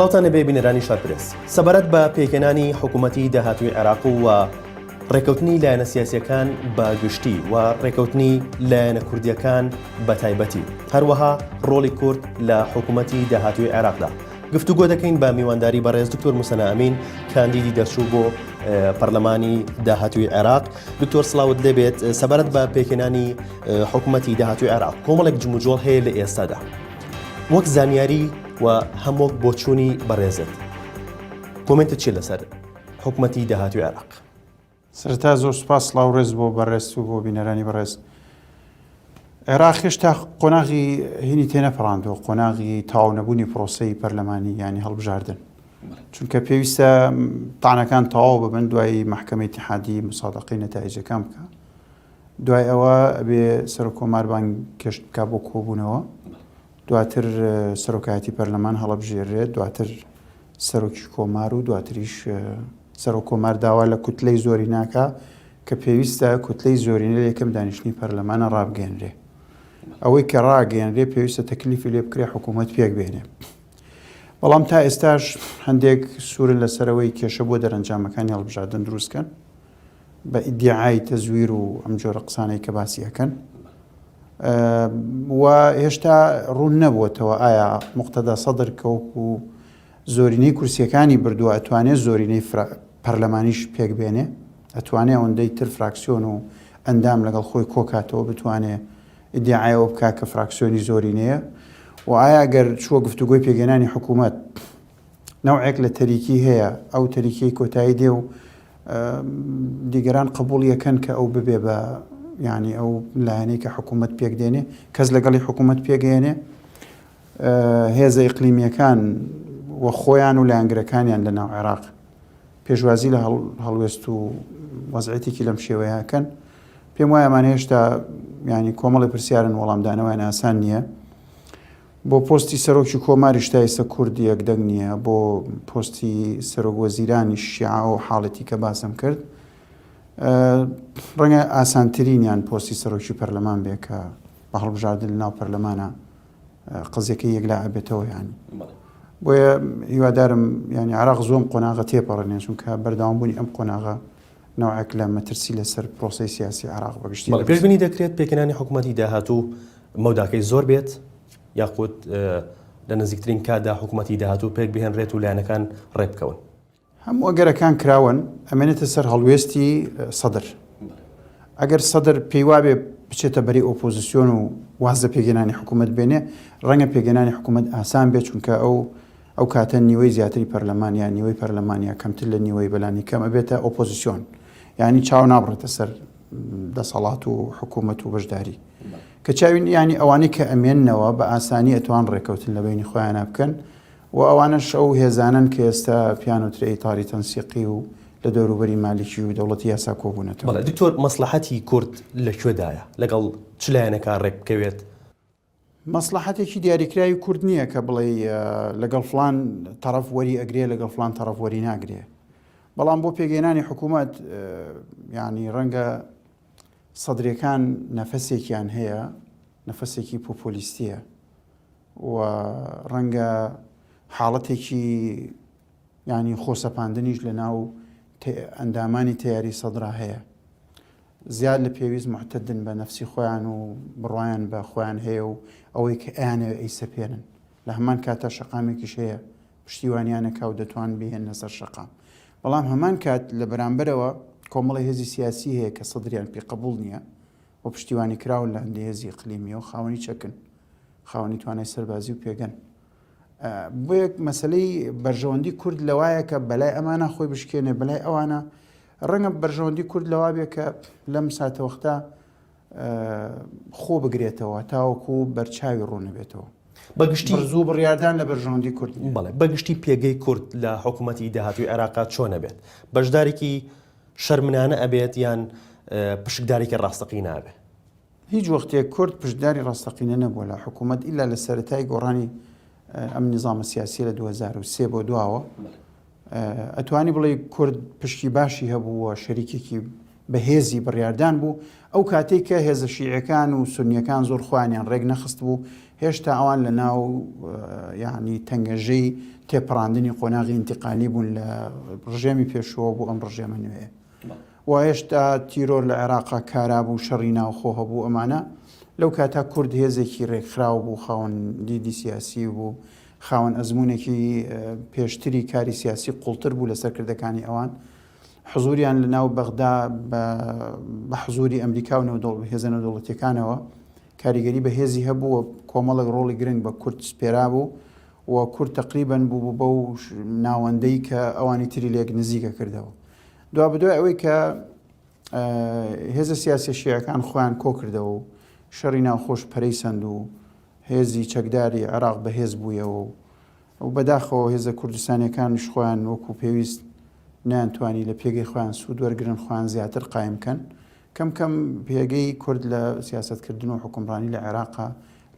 سڵاوتان نەبێ بینەرانی شارپرس سەبارەت بە پێکەنانی حکوومەتی داهاتوی عێراق و ڕێکەوتنی لایەنە سیاسەکان بە گشتی و ڕێکەوتنی لایەنە کوردیەکان بە تایبەتی هەروەها ڕۆڵی کورد لە حکوومەتی داهاتوی عێراقدا گفتوگۆ دەکەین بە میوانداری بەڕێز دکتۆر موسەنا ئەمین کاندیدی دەرچوو بۆ پەرلەمانی داهاتوی عێراق دکتۆر سلااوت لێبێت سەبارەت بە پێکێنانی حکوومەتتی داهاتوی عێراق کۆمەڵێک جموجۆڵ هەیە لە ئێستادا وەک زانیاری و هەمووک بۆچوونی بەڕێزت کۆمنتە چی لەسەر حکوومەتتی داهاتوی عێراق سەرەتا زۆر سوپاس سڵاو ڕێز بۆ بەڕێز و بۆ بینەرانی بەڕێز عێراق هێشتا قۆناغی هینی تێنەپەڕاندوە قۆناغی تاو نەبوونی پرۆسی پەرلەمانی ینی هەڵبژاردن چونکە پێویستە تانەکان تەواو ببن دوای محکمەی تحادی مسادقی نەتایجەکان بکە دوای ئەوە بێ سەرۆک کۆماربان کەشت بک بۆ کۆبوونەوە دواتر سەرۆکایەتی پەرلەمان هەڵبژێرێت دواتر سەرۆکی کۆمار و دواتریش سەرۆک کۆمار داوا لە کوتلەی زۆریناکە کە پێویستە کوتلەی زۆرینە یەکەم دانیشتنی پەرلەمانە ڕابگەێنرێ ئەوەی کە ڕاگەێنرێ پێویستە تەکلیفی لێ بکرێ حکوومەت پێک بێنێ بەڵام تا ئێستاش هەندێک سوورن لەسەرەوەی کێشە بۆ دەرەنجامەکانی هەڵبژاردن دروستکەن بە ئیدیعای تەزویر و ئەم جۆرە قسانەی کە باسی ئەکەن و هێشتا ڕوون نەبووتەوە ئایا مختدا سەدر کەوک و زۆرینەی کورسیەکانی بردووە ئەتوانێت زۆرینەی پەرلەمانیش پێک بێنێ ئەتوانێ ئەوەندەی تر فراکسیۆن و ئەندام لەگەڵ خۆی کۆکاتەوە بتوانێ ئیدعایەوە بک کە فراکسیۆنی زۆرینەیە و ئایا گەر چووە گفتوگۆی پێگەێنانی حکوومەت نەوعێک لە تەریکی هەیە، ئەو تەریکیەی کۆتایی دێ و دیگەران قبوڵی ئەکەن کە ئەو ببێ بە یانی ئەو لایەنەی کە حکوومەت پێک دێنێ، کەس لەگەڵی حکوومەت پێگەیەنێ، هێزە ئیقلیمییەکان و خۆیان و لایەنگرەکانیان لە ناو عێراق پێشوازی لە هەڵوێست و وەزعێتێکی لەم شێوەیەکەن پێم وایە ئەمان هێشتا ینی کۆمەڵی پرسیارن وەڵامدانەوەیان ئاسان نییە بۆ پۆستی سەرۆکی کۆماریش تا ئێستا کورد یەک دەنگ نییە، بۆ پۆستی سەرۆک وەزیرانیش شیعە ئەو حاڵەتی کە باسم کرد ڕەنگە ئاسانترینیان پۆستی سەرۆکی پەرلەمان بێ کە بە هەڵبژاردن لە ناو پەرلەمانە قزیەکە یەکلا ئەبێتەوە یانی بۆیە هیوادارم ینی عراق زۆم قۆناغە تێپەڕێنێ چونکە بەرداوام بوونی ئەم قۆناغە نەوعێک لە مەترسی لەسەر پرۆسەی سیاسی عێراق بە گشتی. بەڵێ پێشبینی دەکرێت پێکهێنانی حکوومەتی داهاتوو مەوداکەی زۆر بێت یاخود لە نزیکترین کاتدا حکوومەتی داهاتوو پێک بهێنرێت و لایەنەکان ڕێبکەون. هەموو ئەگەرەکان کراون ئەمێنێتە سەر هەڵوێستی سەدر. ئەگەر سەدر پێیوابێ بچێتە بەری ئۆپۆزیسیۆن و واز لە پێکهێنانی حکوومەت بێنێ ڕەنگە پێکهێنانی حکوومەت ئاسان بێت چونکە ئەو ئەو کاتە نیوەی زیاتری پەرلەمان یا نیوەی پەرلەمان یا کەمتر لە نیوەی بەلانی کەم ئەبێتە ئۆپۆزسیۆن یانی چاو نابڕێتە سەر دەسەڵات و حکوومەت و بەشداری کە چاوین ینی ئەوانەی کە ئەمێننەوە بە ئاسانی ئەتوان ڕێکەوتن لە بینی خۆیانە بکەن و ئەوانە شەو هێزانن کە ئێستا پیانوترەی تاری تەنسیقی و لە دەوروبەری مالیکی و دەوڵەتی یاسا کۆبوونەتەوە دکتۆر مەسلحەتی کورد لەکوێدایە لەگەڵ چلایەنەکە ڕێک بکەوێت مەسڵەحەتێکی دیاریکراوی کورد نییە کە بڵێ لەگەڵ فلان تەرەف وەری ئەگرێ لەگەڵ فلان تەرەف وەری ناگرێ بەڵام بۆ پێگەێنانی حکوومەت ینی ڕەنگە سەدرەکان نەفەسێکیان هەیە نەفەسێکی پۆپۆلیستیە و ڕەنگە حاڵەتێکی یانی خۆ سەپاندنیش لە ناو ئەندامانی تەیاری سەدرا هەیە زیاد لە پێویست معتدن بە نەفسی خۆیان و بڕایان بە خۆیان هەیە و ئەوەی کە ئەیانەوە ئەی سەپێنن لە هەمان کاتە شەقامێکیش هەیە پشتیوانیانەکە و دەتوان بهێنە سەر شەقام بەڵام هەمان کات لە بەرامبەرەوە کۆمەڵی هێزی سیاسی هەیە کە سەدریان پێ قبول نییە و پشتیوانی کراون لە هەندی هێزی قلیمی و خاوەنی چەکن خاوەنی توانای سەربازی و پێگەن بۆ یەک مەسلەی بەرژەوەندی کورد لەوایە کە بەلای ئەمانە خۆی بشکێنێ بەلای ئەوانە ڕەنگە بەرژەوەندی کورد لەوا بێ کە لەم ساتەوەختە خۆ بگرێتەوە تاوەکو بەرچاوی ڕوونەبێتەوە بە گشتی زوو بڕاردان لە بەرژەوەندی کورد بڵێ بە گشتی پێگەی کورد لە حکوومەتتی داهاتوی عێراقات چۆنە بێت بەشدارێکی شەرمنانە ئەبێت یان پشکدارێکی ڕاستەقی نابێت هیچ وەختێ کورد پشتداری ڕاستەقینە نەبووە لە حکوومەت ئیلا لە سەرەتای گۆڕانی ئەم نیزامە سیاسی لە 2023 بۆ دواوە ئەتوانی بڵێ کورد پشتی باشی هەبووە شەریکێکی بەهێزی بڕاردان بوو ئەو کاتێک کە هێزە شیعەکان و سنیەکان زۆر خوانیان ڕێک نەخست بوو هێشتا ئەوان لە ناو یعنی تەنگەژەی تێپەڕاندنی قۆناغی انتقالی بوون لە ڕژێمی پێشوە بۆ ئەم ڕژێمە نوێ واهێشتا تیرۆر لە عێراقا کارا بوو شەڕی ناوخۆ هەبوو ئەمانە لەو کاتا کورد هێزێکی رێکخراو بوو خاوەن دیدی سیاسی بوو خاوەن ئەزمونێکی پێشتری کاری سیاسی قوڵتر بوو لە سەرکردەکانی ئەوان حزوریان لە ناو بەغدا بە حزوری ئەمریکا و نەودڵ هێزە نەودڵەتەکانەوە کاریگەری بە هێزی هەبوو کۆمەڵک ڕۆڵی گرنگ بە کورد سپێرا بوو و کورد تقریبن بوو بەو ناوەندەی کە ئەوانی تری لێک نزیکە کردەوە دوابدوای ئەوەی کە هێزە سیاسە شیعەکان خۆیان کۆکردەوە و شەڕی ناوخۆش پەرەی سند و هێزی چەکداری عراق بەهێز بوویەوە و ئەو بەداخەوە هێزە کوردستانەکانش خۆیان وەکو پێویست نیانتوانی لە پێگەی خۆیان سوود وەرگن خۆیان زیاتر قایم بکەن کەم کەم پێگەی کورد لە سیاستکردن و حکومڕانی لە عێراقا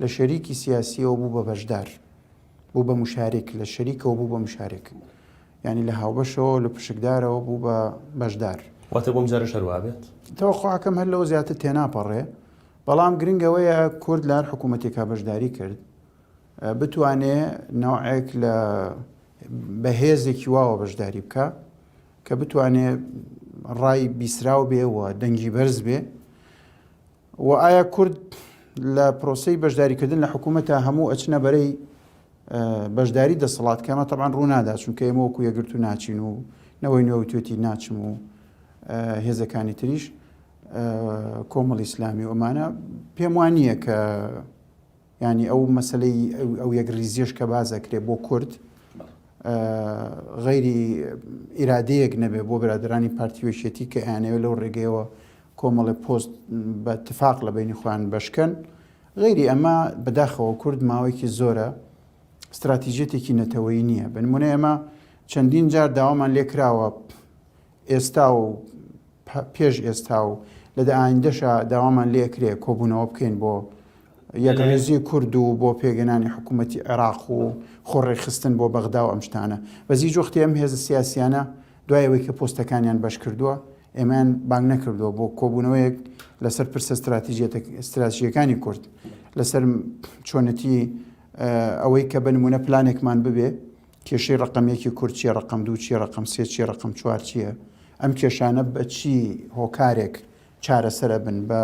لە شەریکی سیاسیەوە بوو بە بەشدار بوو بە مشارێک لە شەریکەوە بوو بە مشارێک یانی لە هاوبەشەوە لە پشکدارەوە بوو بە بەشدار واتە بۆم جارە شەروابێت تەوەخواکەم هەر لەوە زیاتر تێناپەڕێ بەڵام گرنگەوەیە کورد لار حکوومەتێکا بەشداری کرد بتوانێ ناوعێک لە بەهێزێکی واوە بەشداری بکە کە بتوانێ ڕای بیسراو بێ و دەنگی بەرز بێ وە ئایا کورد لە پرۆسەی بەشداریکردن لە حکوومەتە هەموو ئەچنە بەرەی بەشداری دەسەڵات کەمە تەبان ڕوونادا چونکە ئێمە وەکو یەگرت و ناچین و نەوەی نوێوتێتی ناچم و هێزەکانی تریش کۆمەڵ ئیسلامی ئۆمانە پێم وان نییە کە یانی ئەو مەسلەی ئەو یەک ریزیش کە باز ئەکرێ بۆ کورد غەیری ئیرادەیەک نەبێ بۆ برادرانی پارتیوەشێتی کە ئەیانەوە لەو ڕێگەیەوە کۆمەڵی پۆست بە تفاق لە بینی خۆیان بەشکەن غەیری ئەمە بەداخەوە کورد ماوەیەکی زۆرە استراتیژێتێکی نەتەوەی نییە بنمونە ئێمە چەندین جار داوامان لێکراوە ئێستا و پێش ئێستا و لە دە ئایندەشا داوامان لێ ئەکرێ کۆبوونەوە بکەین بۆ یەکڕێزی کورد و بۆ پێگەنانی حکوومەتی عێراق و خۆڕێخستن بۆ بەغدا و ئەم شتانە بەزی جۆختی ئەم هێزە سیاسیانە دوایەوەی کە پۆستەکانیان بەش کردووە ئێمان بانگ نەکردووە بۆ کۆبوونەوەیەک لەسەر پرسە استراتیژیەکانی کورد لەسەر چۆنەتی ئەوەی کە بنمونە پلانێکمان ببێ کێشەی ڕەقەم یەکی کورد چیە ڕەقەم دوو چیە ڕەقەم سێ چیە ڕەقەم چوار چیە ئەم کێشانە بە چی هۆکارێک چارەسەر ئەبن بە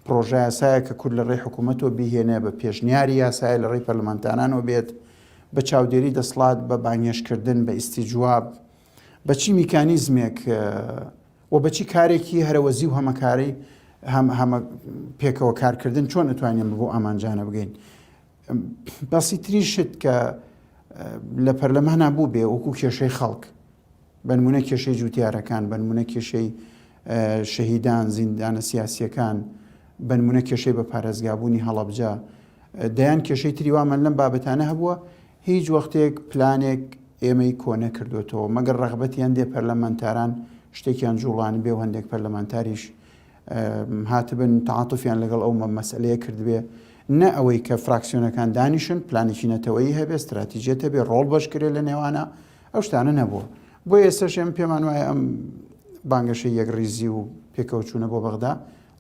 پرۆژە یاسایە کە کورد لە ڕێی حکوومەتەوە بیهێنێ بە پێشنیاری یاسایە لە ڕێی پەرلەمانتانانەوە بێت بە چاودێری دەسڵات بە بانگێشتکردن بە ئیسیجواب بە چی میکانیزمێک و بەچی کارێکی هەرەوەزی و هەمەکاری هەم هەمە پێکەوە کارکردن چۆن ئەتوانین بۆ ئامانجانە بگەین بەسیترین شت کە لە پەرلەمانە بوو بێ وەکو کێشەی خەڵک بەنمونە کێشەی جوتیارەکان بەنمونە کێشەی شەهیدان زیندانە سیاسیەکان بەنمونە کێشەی بە پارێزگابوونی هەڵەبجە دەیان کێشەی تری وامە لەم بابەتانە هەبووە هیچ وەختێک پلانێک ئێمەی کۆنە کردوێتەوە مەگەر ڕغبەتیان دێ پەرلەمانتاران شتێکیان جوڵان بێ هەندێک پەرلەمانتاریش هاتبن تەعاتوفیان لەگەڵ ئەو مەسەلەیە کردبێ نە ئەوەی کە فراکسیۆنەکان دانیشن پلانێکی نەتەوەیی هەبێ استراتیجێت هەبێ ڕۆڵ بەشکرێت لە نێوانە ئەو شتانە نەبووە بۆ ئێستش ئەم پێمان وایە ئەم بانگەشە یەک ریزی و پێکەوەچوونە بۆ بەغدا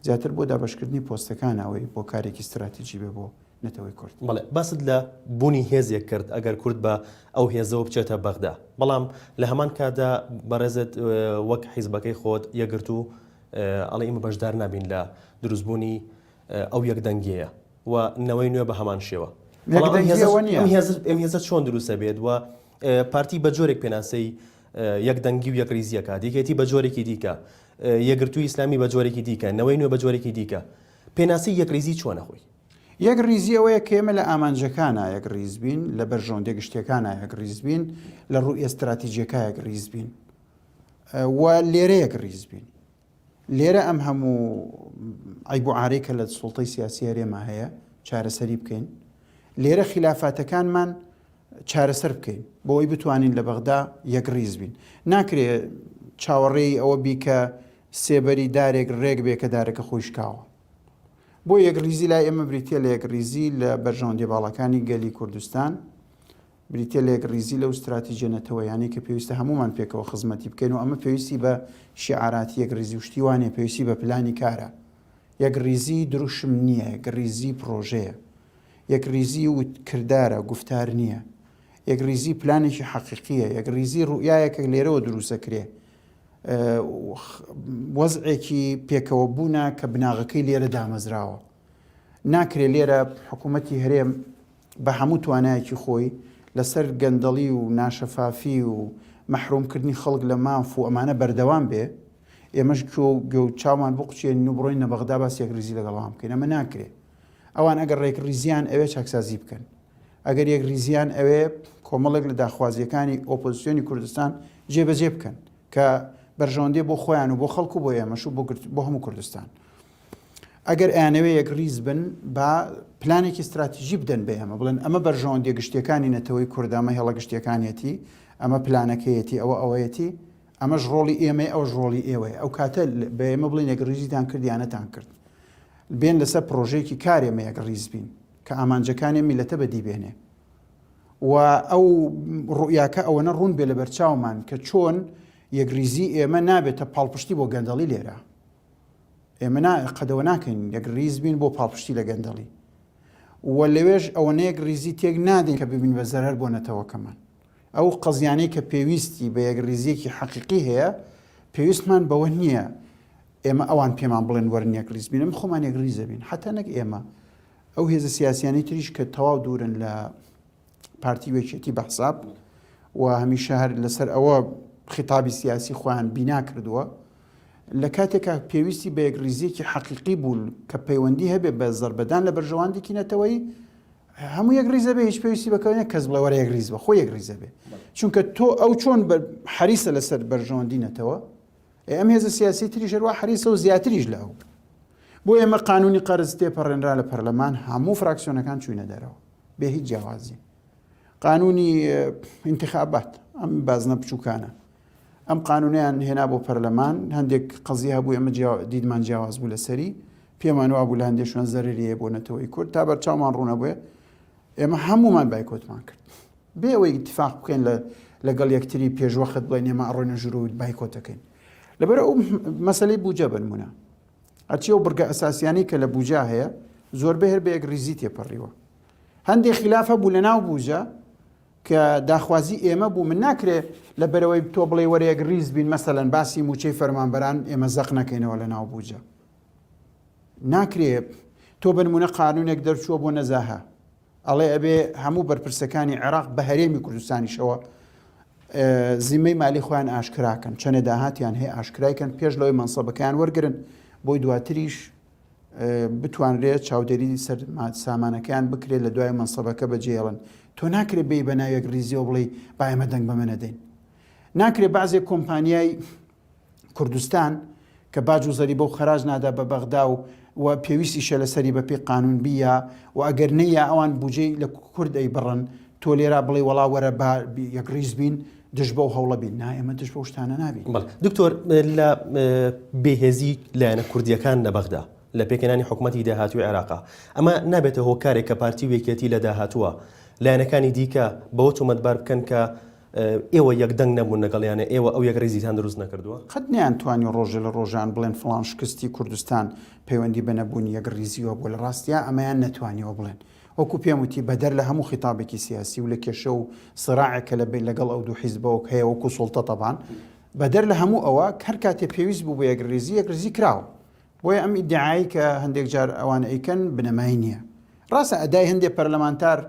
زیاتر بۆ دابشکردنی پۆستەکان ئەوەی بۆ کارێکی استراتیجی بێ بۆ نەتەوەی کورد. بەڵێ باست لە بونی هێزێک کرد ئەگەر کورد بە ئەو هێزەوە بچێتە بەغدا بەڵام لە هەمان کاتدا بەڕێزت وەک حیزبەکەی خۆت یەکگرتو ئەڵێ ئیمە بەشدار نابین لە دروست بونی ئەو یەک دەنگیەیە و نەوەی نوێ بە هەمان شێوە هێزە چۆن دروستە بێت و پارتی بە جۆرێک پێناسەی یەک دەنگی و یەکریزیەکە دیکێتی بە جۆرێکی دیکە یەگرتوو ئیسلامی بە جۆرێکی دیکە نەوەی نوێ بە جۆرێکی دیکە پێناسی یەکریزی چۆنە خۆی یەک ڕیزی ئەوەیە کە ئێمە لە ئامانجەکانا یەک ڕیز بین، لە بەرژەوەندیە گشتیەکانا یەک ڕیز بین، لە ڕووی ئێستراتیجیەکە یەک ڕیز بین و لێرە یەک ڕیز بین. لێرە ئەم هەموو ئەیب و عارەی کە لە سوڵتەی سیاسی هەرێمە هەیە چارەسەری بکەین. لێرە خلافاتەکانمان چارەسەر بکەین بۆی بتوانین لە بەغدا یەک ڕیز بین. ناکرێ چاوەڕێی ئەوە بی کە سێبەری دارێک ڕێک بێ کە دارەکە خۆی شکاوە. بۆ یەکڕیزی لای ئێمە بریتە لە یەکڕیزی لە بەرژەوەندی باڵەکانی گەلی کوردستان بریتە لە یەکڕیزی لەو استراتیژە نەتەوەیانی کە پێویستە هەمومان پێکەوە خزمەتی بکەین و ئەمە پێویستی بە شیعاراتی یەکڕیزی و شتیوانێ پێویستی بە پلانی کارە یەکڕیزی دروشم نییە یەکڕیزی پرۆژەیە یەکڕیزی و کردارە گفتار نییە یەکڕیزی پلانێکی حەقیقیە یەکڕیزی ڕوئایەکە لێرەوە دروستەکرێ وەزعێکی پێکەوە بوونە کە بناغەکەی لێرە دامەزراوە ناکرێت لێرە حکوومەتتی هەرێم بە هەموو توانایەکی خۆی لەسەر گەندەڵی و ناشەفافی و مەحرومکردنی خەڵک لە ماف و ئەمانە بەردەوام بێ ئێمەش کۆ گەوت چاوان بقچێن و بڕۆین نە بەغدا باسێک ریزی لەگەڵام بکەین ئەمە ناکرێت ئەوان ئەگەر ڕێکڕیزیان ئەوێ چاکسازی بکەن ئەگەر یەک ریزیان ئەوێ کۆمەڵێک لە داخوازیەکانی ئۆپۆزیسیۆنی کوردستان جێبەجێ بکەن کە بەرژەوەندی بۆ خۆیان و بۆ خەڵکو بۆ ئێمەش و بۆ هەموو کوردستان ئەگەر ئەیانەوێ یەک ریز بن با پلانێکی استراتیژی بدەن بە ئێمە بڵێن ئەمە بەرژەوەندی گشتیەکانی نەتەوەی کوردامە هێڵە گشتیەکانیەتی ئەمە پلانەکەیەتی ئەوە ئەوەیەتی ئەمەش ڕۆڵی ئێمەیە ئەوەش ڕۆڵی ئێوەیە ئەو کاتە بە ئێمە بڵێن یەکڕیزیتان کرد یا نەتان کرد بێن لەسەر پرۆژەیەکی کار ئێمە یەکڕیز بین کە ئامانجەکانی میلەتە بەدی بێنێ و ئەو ڕوئیاکە ئەوەنە ڕوون بێ لە بەرچاومان کە چۆن یەکریزی ئێمە نابێتە پاڵپشتی بۆ گەندەڵی لێرە ئێمە قەدەوە ناکەین یەکریز بین بۆ پاڵپشتی لە گەندەڵی و لەوێش ئەوەنەیەک ریزی تێک نادەین کە ببین بە زەرەر بۆ نەتەوەکەمان ئەو قەزیانەی کە پێویستی بە یەکڕیزییەکی حەقیقی هەیە، پێویستمان بەوە نییە ئێمە ئەوان پێمان بڵێن وەرن یەکڕیز بین، ئێمە خۆمان یەکڕیز دەبین. حەتتا نەک ئێمە، ئەو هێزە سیاسییانەی تریش کە تەواو دوورن لە پارتی و یەکێتی بە حساب و هەمیشە هەر لەسەر ئەوە خیتابی سیاسی خۆیان بینا کردووە، لە کاتێکا پێویستی بە یەکڕیزییەکی حەقیقی بوو کە پەیوەندی هەبێ بە زەربەدان لە بەرژەوەندێکی نەتەوەیی، هەموو یەک ریزە بێ هیچ پێویستی بەکەوێنە کەس بڵێ وەرە یەک ریز بە خۆ یەک ریزە بێ چونکە تۆ ئەو چۆن حەریسە لەسەر بەرژەوەندی نەتەوە ئەم هێزە سیاسی تری شەروە حەریسە و زیاتریش لە ئەو بۆ ئێمە قانونی قەرز تێپەڕێنرا لە پەرلەمان هەموو فراکسیۆنەکان چوینە دەرەوە بێ هیچ جیاوازی قانونی انتخابات ئەم بازنە بچووکانە ئەم قانونیان هێنا بۆ پەرلەمان هەندێک قەزی هەبوو ئەمە دیدمان جیاواز بوو لەسەری پێمان وابوو لە هەندێک شوێن زەرریە بۆ نەتەوەی کورد تا بەرچاومان ڕوونە بێ ئێمە هەمومان بایکۆتمان کرد بێ ئەوەی اتفاق بکەین لە لەگەڵ یەکتری پێشوەخت بڵێن ئێمە ئەڕۆینە ژروود بایکۆتەکەین لەبەر ئەو مەسلەی بوجە بنمونە ئەچی و بڕگە ئەساسیانی کە لە بوجا هەیە زۆربە هەر بە یەک ریزی تێپەڕیوە هەندێک خلافە بوو لە ناو بوجە کە داخوازی ئێمە بوو من ناکرێ لە بەرەوەی تۆ بڵێ وەرەیەک ریز بین مەسەەن باسی موچەی فەرمانبەران ئێمە زەق نەکەینەوە لە ناو بوجە ناکرێ تۆ بنمونە قانونێک دەرچووە بۆ نەزاهە ئەڵێ ئەبێ هەموو بەرپرسەکانی عێراق بە هەرێمی کوردستانیشەوە زیمەی مالی خۆیان ئاشکراکەن چەنێ داهاتیان هەیە ئاشکرایکەن پێش لەوەی مەنسەبەکەیان وەرگن بۆی دواتریش بتوانرێت چاودێری سەر سامانەکەیان بکرێت لە دوای مەسەبەکە بەجێڵن تۆ ناکرێت بی بە ناوێک ریزی و بڵی بایمە دەنگ بە منەدەین ناکرێت بازێک کۆمپانیای کوردستان کە باج و زەری بۆ خراج نادا بە بەغدا و و پێویستی شە لەسەری بەپی قانون بیە و ئەگەر نەیە ئەوان بجێ لە کوردەی بڕن تۆ لێرا بڵێ وڵا وەرە بە یەک ریز بین دژ بەو هەوڵە بین نا ئێمە دژ بەو شتانە نابین. بەڵێ دکتۆر لە بێهێزی لایەنە کوردییەکان لە بەغدا لە پێکهێنانی حکوومەتی داهاتووی عێراقا ئەمە نابێتە هۆکارێک کە پارتی و یەکێتی لە داهاتووە لایەنەکانی دیکە بەوە تۆمەتبار بکەن کە ئێوە یەک دەنگ نەبوون لەگەڵیانە ئێوە ئەو یەک ڕیزیتان دروست نەکردووە قەت نیان توانی ڕۆژە لە ڕۆژان بڵێن فلان شکستی کوردستان پەیوەندی بە نەبوونی یەک ڕیزیوە بۆ لە ڕاستیا ئەمەیان نەتوانیەوە بڵێن وەکو پێم وتی بەدەر لە هەموو خیتابێکی سیاسی و لە کێشە و سراعێک کە لە لەگەڵ ئەو دوو حیزبەوەک هەیە وەکو سوڵتە تەبان بەدەر لە هەموو ئەوە کەر کاتێ پێویست بوو بە یەکریزی یەکریزی کراوە بۆیە ئەم ئیدعایی کە هەندێک جار ئەوان ئەیکەن بنەمای نییە ڕاستە ئەدای هەندێک پەرلەمانتار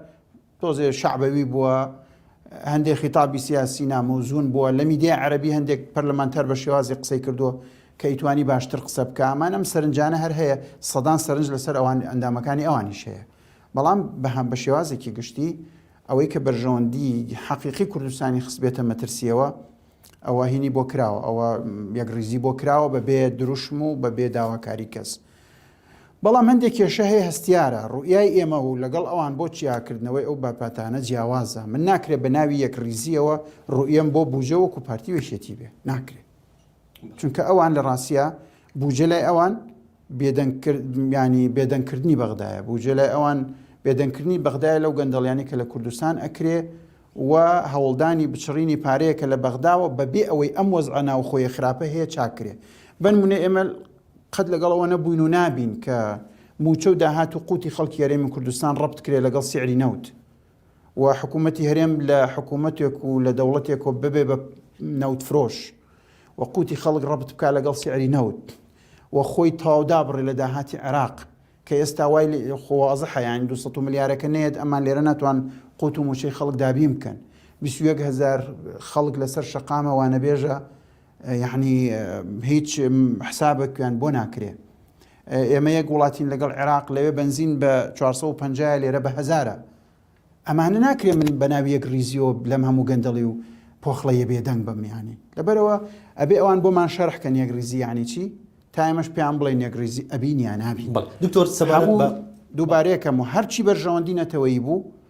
تۆزێ شعبەوی بووە هەندێک خیتابی سیاسی نامۆزون بووە لە میدیای عەربی هەندێک پەرلەمانتار بە شێوازی قسەی کردووە کەی توانی باشتر قسە بکا ئەمان ئەم سەرنجانە هەر هەیە سەدان سەرنج لەسەر ئەوان ئەندامەکانی ئەوانیش هەیە بەڵام بەهام بە شێوازێکی گشتی ئەوەی کە بەرژەوەندی حەقیقی کوردستانی خستبێتە مەترسیەوە ئەوە هینی بۆ کراوە ئەوە یەک ریزی بۆ کراوە بە بێ دروشم و بە بێ داواکاری کەس بەڵام هەندێک کێشە هەیە هەستیارە ڕوئای ئێمە و لەگەڵ ئەوان بۆ چیاکردنەوەی ئەو باپاتانە جیاوازە من ناکرێت بە ناوی یەک ریزیەوە ڕوئەم بۆ بجە وەکو پارتی وێشێتی بێ ناکرێت چونکە ئەوان لە ڕاستە بوجە لای ئەوان بێدەنگکردنیانی بێدەنگکردنی بەغدایە بوجە لای ئەوان بێدەنگکردنی بەغدای لەو گەندەڵیانی کە لە کوردستان ئەکرێ و هەوڵدانی بچڕینی پارەیە کە لە بەغداوە بەبێ ئەوەی ئەم وەزعە ناوخۆیە خراپە هەیە چاکرێ بنمونە ئێمە قەت لەگەڵەوە نەبووین و نابین کە موچە و داهات و قوتی خەڵکی یاریمە کوردستان ڕبت کرێ لەگەڵ سعری نەوت و حکوومەتی هەرێم لە حکوومەتێک و لە دەوڵەتێک و ببێ بە نەوت فرۆش و قوتی خەڵک ڕەبت بکە لەگەڵ سیعری نەوت و خۆی تاودا بڕێ لە داهاتی عێراق کە ئێستا وای خۆوازە حەیان 200 ملیارەکە نێت ئەمان لێرە ناتوان قوت و موچەی خەڵک دابین بکەن 21 هزار خەڵک لەسەر شەقامە وانەبێژە یعنی هیچ حسابێکیان بۆ ناکرێ ئێمە یەک وڵاتین لەگەڵ عێراق لەوێ بەنزین بە چوار سەد و پەنجا یە لێرە بە هەزارە ئەمانە ناکرێ من بە ناوی یەک ریزیۆ لەم هەموو گەندەڵی و پۆخڵەیە بێدەنگ بم یانی لەبەرەوە ئەبێ ئەوان بۆمان شەرح کەن یەک ریزی یانی چی تا ئێمەش پێیان بڵێن یەک ریزی ئەبین یا نابین بەڵ دکتۆر سەبارەت بە دووبارەیەکەم و هەرچی بەرژەوەندی نەتەوەیی بوو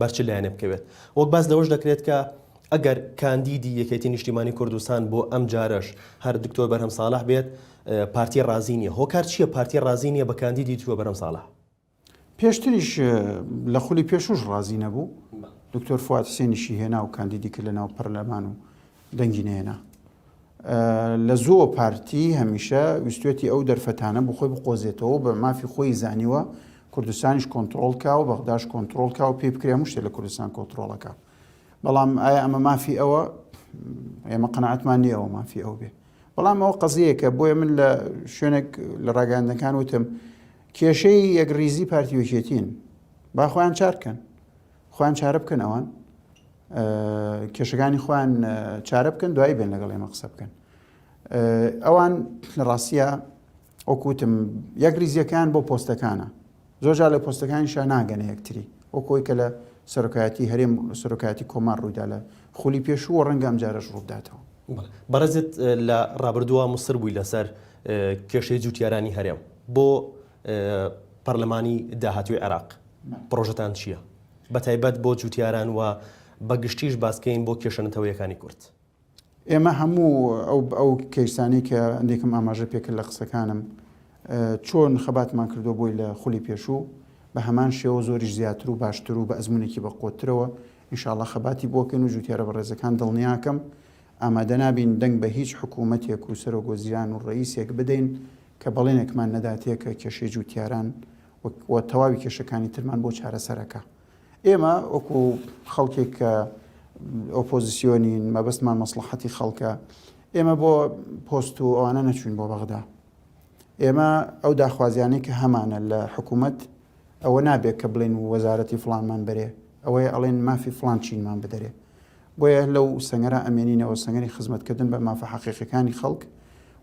بەر چ لایەنێ بکەوێت. وەک باس لەوەش دەکرێت کە ئەگەر کاندیدی یەکێتی نیشتیمانی کوردستان بۆ ئەم جارەش هەر دکتۆر بەرهەم ساڵح بێت پارتی ڕازی نیە هۆکار چییە پارتی ڕازی نیە بە کاندیدی دکتۆر بەرهەم ساڵح پێشتریش لە خولی پێشوش ڕازی نەبوو دکتۆر فواد حسێنیشی هێنا و کاندیدی کرد لە ناو پەرلەمان و دەنگی نەیەنا. لە زۆ پارتی هەمیشە ویستێتی ئەو دەرفەتانە بۆ خۆی بقۆزێتەوە بە مافی خۆی زانیوە کوردستانیش کۆنتترۆل کا و بەغداش کۆنتترۆل کا و پێی بکرێ مشتێ لە کوردستان کۆنتترۆڵەکە بەڵام ئایا ئەمە مافی ئەوە ئێمە قەنەعاتمان نیەوە مافی ئەو بێ بەڵام ئەوە قەزیەکە بۆیە من لە شوێنێک لە ڕاگەاندەکان وتم کێشەی یەکریزی پارتیوەکێتین باخۆیان چارکەن خۆیان چارە بکەن ئەوان کێشەکانی خۆیان چارە بکەن دوایی بێن لەگەڵ ئێمە قسە بکەن ئەوان لە ڕاستە ئۆکوتم یەک ریزیەکان بۆ پۆستەکانە زۆرجا لە پۆستەکانی شا ناگەنە یەکتری ئەو کۆی کە لە سەرۆکایەتی هەرێم سەرۆکایەتی کۆمار ڕوویدا لە خولی پێشووە ڕەنگەم جارش ڕووداتەوە بەڕێزت لە ڕابردووە مسر بووی لەسەر کێشەی جووتیارانی هەرێم بۆ پەرلەمانی داهاتووی عێراق پڕۆژەتان چییە؟ بە تایبەت بۆ جووتیاران و بە گشتیش باسکەین بۆ کێشە نەتەوەیەکانی کورد. ئێمە هەموو ئەو ئەو کەیسانەی کە ئەندێکم ئاماژە پێکرد لە قسەکانم چۆن خەباتمان کردووە بۆی لە خولی پێشوو بە هەمان شێوە زۆریش زیاتر و باشتر و بە ئەزمونێکی بە قوترەوە ئینشاءاللە خەباتی بۆکەین و جووتیارە بەڕێزەکان دڵنیاکەم ئامادەنابین دەنگ بە هیچ حکوومەتێک و سەرۆک وەزیران و ڕەئیسێک بدەین کە بەڵێنێکمان نەداتێ کە کێشەی جووتیاران و و تەواوی کێشەکانی ترمان بۆ چارەسەرەکا. ئێمە وەکو خەڵکێک کە ئۆپۆزیسیۆنین مەبەستمان مەسلحەتی خەڵکە ئێمە بۆ پۆست و ئەوانە نەچوین بۆ بەغدا ئێمە ئەو داخوازیانەی کە هەمانە لە حکوومەت ئەوە نابێت کە بڵێن وەزارەتی فڵانمان بەرێ ئەوەیە ئەڵێن مافی فڵان چینمان بدەرێ بۆیە لەو سەنگەرە ئەمێنینەوە سەنگەری خزمەتکردن بە مافە حەقیقەکانی خەڵک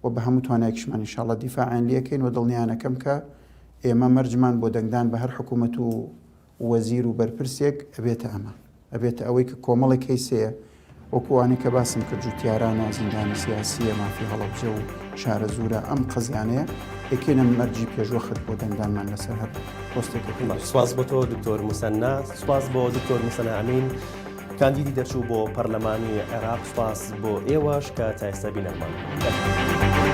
و بە هەموو توانایکشمان انشاءاللە دیفاعیان لەکەین و دڵنیانەکەم کە ئێمە مەرجمان بۆ دەنگدان بە هەر حکوومەت و وەزیر و بەرپرسێک ئەبێتە ئەمە. ئەبێتە ئەوەی کە کۆمەڵێک کەیس هەیە وەکو ئەوانەی کە باسم کرد جوتیارانە، زیندانی سیاسییە، مافی هەڵەبجە و شارەزوورە، ئەم قەزیانەیە دەکەینە مەرجی پێشوەخت بۆ دەنگدانمان لەسەر هەر پۆستێکە کە باشە. سپاس بۆ تۆ دکتۆر موسەننا، سپاس بۆ دکتۆر موسەننا ئەمین کاندیدی دەرچوو بۆ پەرلەمانی عێراق، سپاس بۆ ئێوەش کە تا ئێستا بینەرمان بوون.